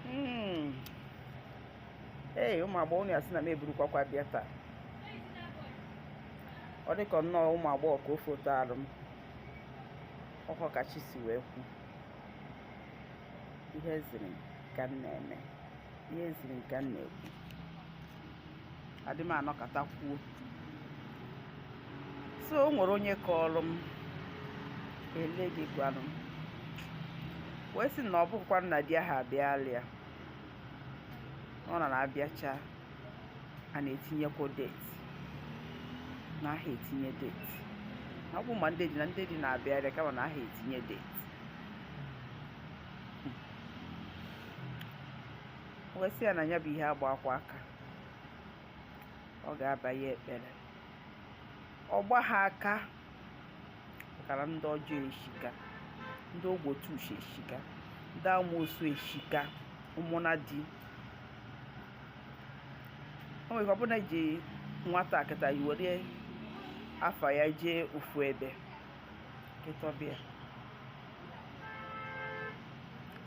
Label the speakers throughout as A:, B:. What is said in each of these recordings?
A: hmm. ee ụmụ agbọghọ unu ya-asị na m eburukwakwa bịa taa ọ dịka nnọọ ụmụ agbọghọ ka o foto arụ m ọkọ ka chi si wee kwu ihe ziri ka m na-eme ihe ziri ka m na-ekwu adị m anọkata kwuo so o nwere onye kọọrọ m a lady gwara m wee sị na ọ bụkwanụ na di aha abịalịa ọ na na-abịacha a na-etinyekwa date na aha etinye date na ọ bụ ma ndị di na ndị di na-abịarịa kama na aha etinye date wee sị ya na ya bụ ihe agba ha kwa aka ọ ga-aba ya ekpere ọ gba ha aka pụtara ndị ọjọọ eshika ndị ogbotu uche eshika ndị amoosu eshika ụmụnna di o nwere ike ọ bụ na eji nwata kịta were afa ya jee ofu ebe kịta ọ bịa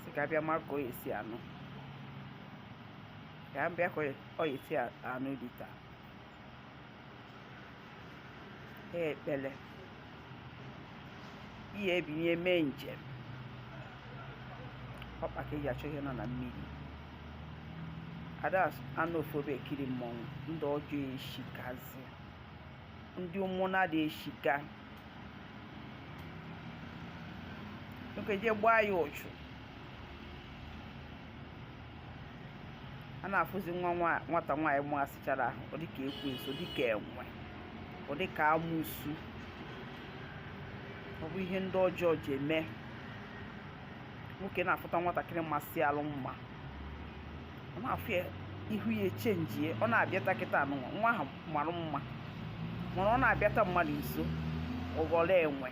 A: sị ka a bịa mara ka ọ ya-esi anụ ka a bịa ka ọ ya-esi anụ di taa ha ekpele ị ya-ebini mee njem ọkpa ka eji achọ ihe nọ na mmiri ada anọ ofu ebe ekiri mmọnwụ ndị ọjọọ eshikazie ndị ụmụnna di eshika nwoke jee gbaa ya ụchụ a na-afụzi nwa nwata nwaanyị masịchara ọ dịka ekwensu dịka enwe ọ dịka amoosu ọ bụ ihe ndị ọjọọ ji eme nwoke na-afụta nwatakịrị masịalụ mma ọ na-afụ ya ihu ya echenjie ọ na-abịata kịta nwa ahụ mara mma mana ọ na-abịata mmadụ nso ọ ghọrọ enwe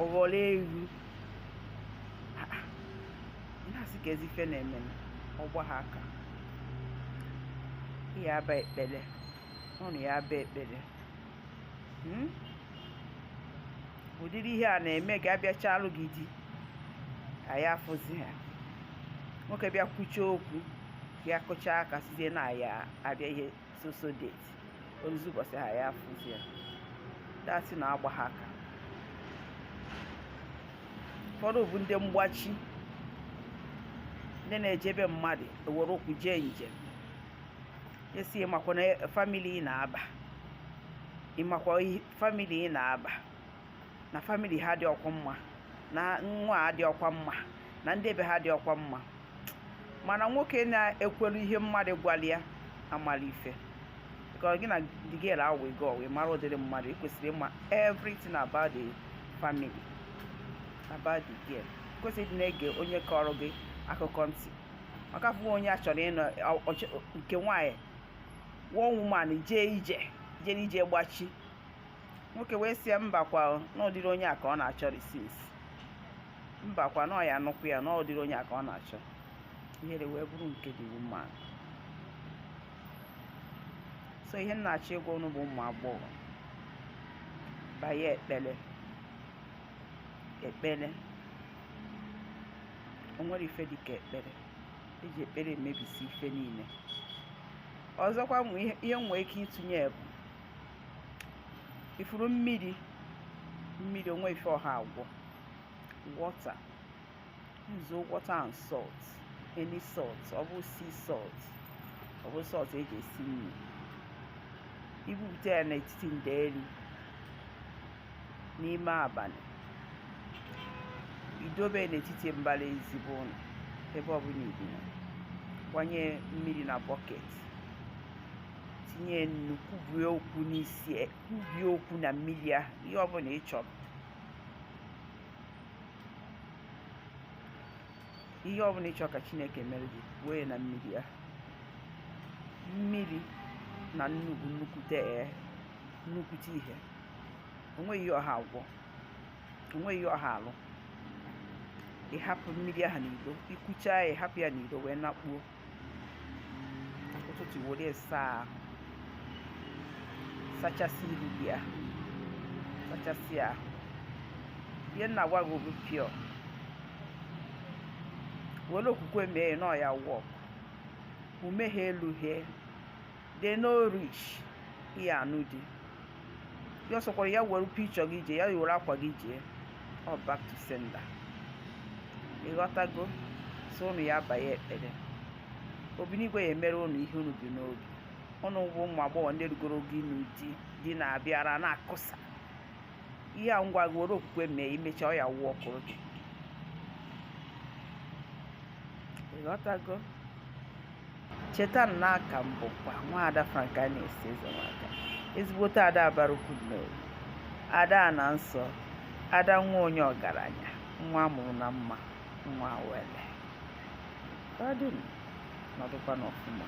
A: ọ ghọrọ ewu na-asị kezi ife na-eme na ọ gba ha aka ị ya-aba ekpere na ị ya-aba ekpere hmm? ụdịrị ihe a na-eme ka a bịachaalụ gị di a ya-afụzi ha nwoke bịa kwuchaa okwu ya kụchaa aka sịzie na ya abịa ihe sọsọ date o ruzie ụbọchị ha ya afụzi ya that is na ọ gba ha aka ụfọdụ bụ ndị mgbachi ndị na-eje be mmadụ ewere ụkwụ jee njem a sị ị makwa family ị na-aba ị makwa family ị na-aba na famili ha dị ọkwa mma na nwa a dị ọkwa mma na ndị be ha dị ọkwa mma mana nwoke na-ekwelu ihe mmadụ gwara ya amarọ ife ka gị na the girl ahụ ego wee mara ụdịrị mmadụ ị kwesịrị ịma everything about the family about the girl kwesịrị ịdị na-ege onye kọrọ gị akụkọ ntị maka ofu onye a chọrọ ịnụ nke nwaanyị one woman jee ije jee ije gbachi nwoke wee sị ya mbakwa na ụdịrị onye a ka ọ na-achọrị since mbakwa na ọ ya-anụkwu ya na ụdịrị onye a ka ọ na-achọ ihere wee bụrụ nke dị mma so ihe m na-achọ ịgwa unu bụ ụmụ agbọghọ banye ekpere ekpere o nwere ife dịka ekpere eji ekpere emebisi ife niile ọzọkwa ihe m nwe ike ịtụnye bụ ịfụrụ mmiri mmiri onweghị ife ọ ha agwọ water nzuo water and salt any salt ọ bụ sea salt ọ bụ salt eji esi nri ibupụta ya n'etiti ndeeri n'ime abalị idobe n'etiti mbara ezi be unu ebe ọbụla i bi na gbanye mmiri na bọket tinye nnu kwube okwu n'isi e, kwube okwu na mmiri ahụ ihe ọbụla ị chọrọ ihe ọbụla ị chọrọ ka chineke mere gị kwuo ya na mmiri ahụ mmiri na nnu bụ nnukwute ee nnukwute ihe onweghị ihe ọ ha agwọ onweghị ihe ọ ha alụ ịhapụ mmiri ahụ n'ilo ikwuchaa ya ịhapụ ya n'ilo wee nakpuo ụtụtụ were saa ahụ sachasị ihu gị ahụ sachasị ahụ ihe m na-agwa gị obi pịọ were okwukwe mee na ọ ya work umehie elu hee they no rich ya anụ di ya ọsọkwara ya were picture gị jee ya were akwa gị jee ọ back to sender ịghọtago so ụnụ ya-abanye ekpere obinigwe ya emere ụnụ ihe unu bu n'obi ụnụ bụ ụmụ agbọghọ ndị rugoro ogo ịnụ di di na-abịara na-akụsa ihe a m gwara gị were okwukwe mee imecha ọ ya workụrụ gị ịghọtago cheta na aka m bụkwa nwaada Francana Ezeamaka ezigbote ada abarukwu n'owu ada ana nsọ ada nwa onye ọgaranya nwa amụrụ na mma nwa wele ọ dị m nọdụkwanụ ọfụma